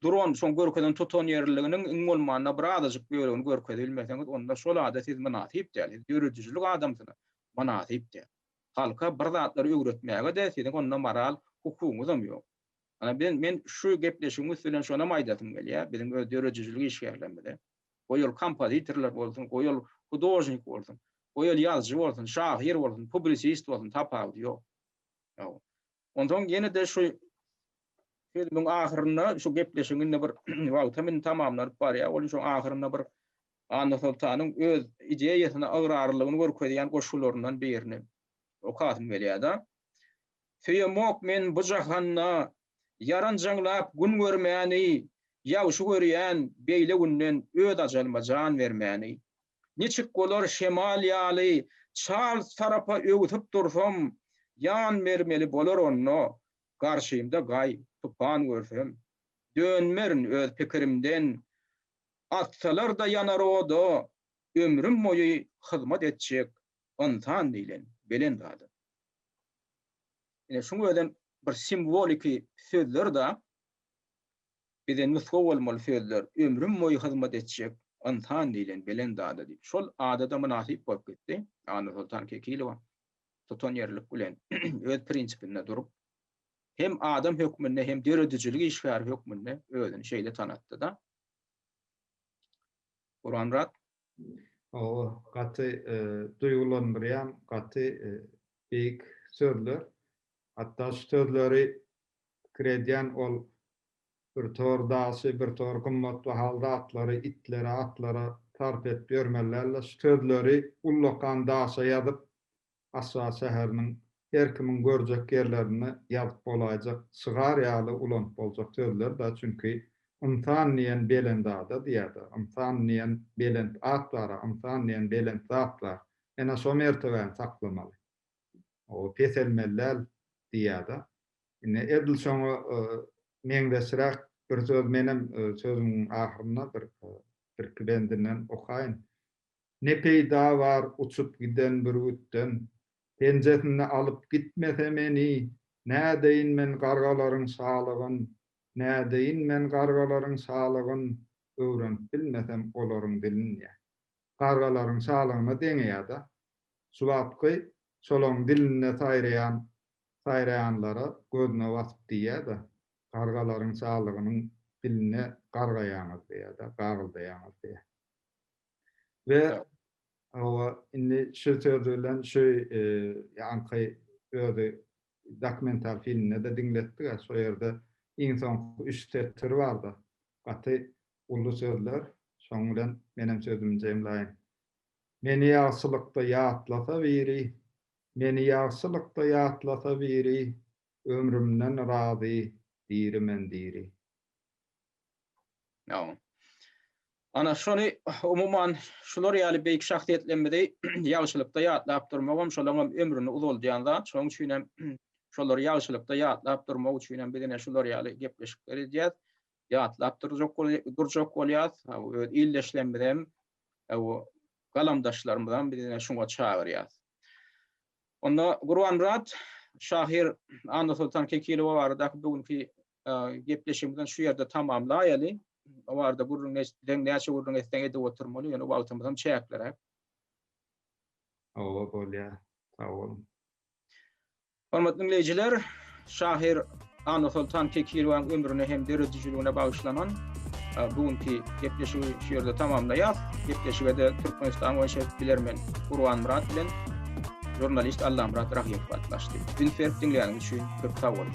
duran, şoň görkezen tutan ýerliliginiň iň bolmanda bir azajyk bölegini görkezip bilmeseňiz, onda şol ada siz mynasyp däl, siz döredijilik adamsyna mynasyp däl. Halka bir zatlary öwretmäge-de siziň onda moral hukugyňyzam ýok. Ana, men şu gepleşigiň üsti bilen şonam aýdasym gelýär biziň öz döredijilik işgärlerimize. Goý ol kompozitorlar bolsun, goý ol hudožnik bolsun, goý ol ýazyjy bolsun, şahyr bolsun, publisist bolsun, tapawudy ýok. Ýa-o. Onsoň ýene-de şu sözümiň ahyrynda, şu gepleşigiň indi bir wagtam indi tamamlanyp barýar, ol şoň ahyrynda bir Annasoltanyň öz ideýasyna ygrarlylygyny görkezýän goşgularyndan birini okasym gelýär-de. Söýemok men bu jahanda Ýaranjaňlap gün görmäni, Ýagşy görýän beýle günden Öz ajalyma jan bermäni. Niçik bolar şemal ýaly, Çals tarapa öwsüp dursam, Jan bermeli bolar onda, Garşymda gaý, tupan görsem. Dönmerin öz pikirimden, Atsalar-da ýanar oda, Ömrüm boýy hyzmat etjek Ynsan diýlen belent adam. Ine şuň özem bir simwoliki sözler-da, bize nusga bolmaly sözler, ömrüm boýy hyzmat etjek ynsan diýlen belent ada diýip. Şol ada-da mynasyp bolup gitdi. Annasoltan Kekilowa tutanýerlilik bilen öz prinsipinde durup, hem adam hökmünde, hem döredijilik işgäri hökmünde özüni şeýle tanatdy-da. Gurbangurap, Hawa, gaty duýgulandyrýan, gaty beýik sözler. Hatda şu sözleri pikir edýän ol bir tor daşy, bir tor gymmat bahaly zatlary itlere, atlara sarp edip ýörmeli däldi. Şu sözleri ullakan daşa ýazyp, Aşgabat şäheriniň her kimiň görjek ýerlerinde ýazyp bolaýjak şygar ýaly ulanyp boljak sözler-dä, çünki Ynsan diýen belend ada diýer-dä, Ynsan diýen belent at bar-a, Ynsan diýen belent zat bar. Ene şo mertebäni saklamaly. O peselmeli däl diýer-dä. Ine, edil şoňa meňzeşräk bir söz menem sözümiň ahyrynda bir birki bendinden okaýyn. Ne peýda bar uçup giden bürgütden? Penjesinde alyp gitmese meni, Nädeýin men gargalaryň şalygyn, Nädeýin men gargalaryň şalygyn, Öwrenip bilmesem olaryň dilin diýýär. Gargalaryň şalygyna deňeýär-de. Şu wagtky şolaryň dilinde saýraýan saýraýanlara gözüne basyp diýýär-de, Gargalaryň şalygynyň diline gargaýaňyz diýýär-de, gagyldaýaňyz diýýär. we hawa indi şu sözi bilen şu ýaňky özi dokumental filmde-de diňletdi-ä şo ýerde iň soňky üç setir bar-da gaty uly sözler şoň bilen menem sözümi jemlaýyn. Meni ýagşylykda ýatlasa biri Meni ýagşylykda ýatlasa biri Ömrümden razy diri men diri. Ýa. Ana, şony, umuman, şular ýaly beýik şahsyýetlerimizi ýagşylykda ýatlap durmagam şolaňam ömrüni uzaldýan zat. Şonuň üçin hem şolary ýagşylykda ýatlap durmak üçin hem biz ine şular ýaly gepleşikler edýäs. Ýatlap durjak durjak bolýas. Öz ildeşlerimizi hem, galamdaşlarymyzy hem biz ine şuňa çagyrýas. Onda Gurbanmyrat şahyr Annasoltan Kekilowa baradaky bu günki gepleşigimizi şu ýerde tamamlaýaly. O barada gürrüň etseň, näçe gürrüň etseň edip oturmaly, ýöne wagtymyz hem çäkliräk. Hawa, bolýar. Sag boluň. Hormatly diňleýjiler, şahyr Annasoltan Kekirewanyň ömrüne hem döredijiligine bagyşlanan bu günki gepleşigi şu ýerde tamamlaýas. Gepleşige-de Türkmenistan boýunça bilermen Gurbanmyrat bilen žurnalist Allamyrat Rahyýew gatnaşdy. Üns berip diňläniňiz üçin köp sag boluň.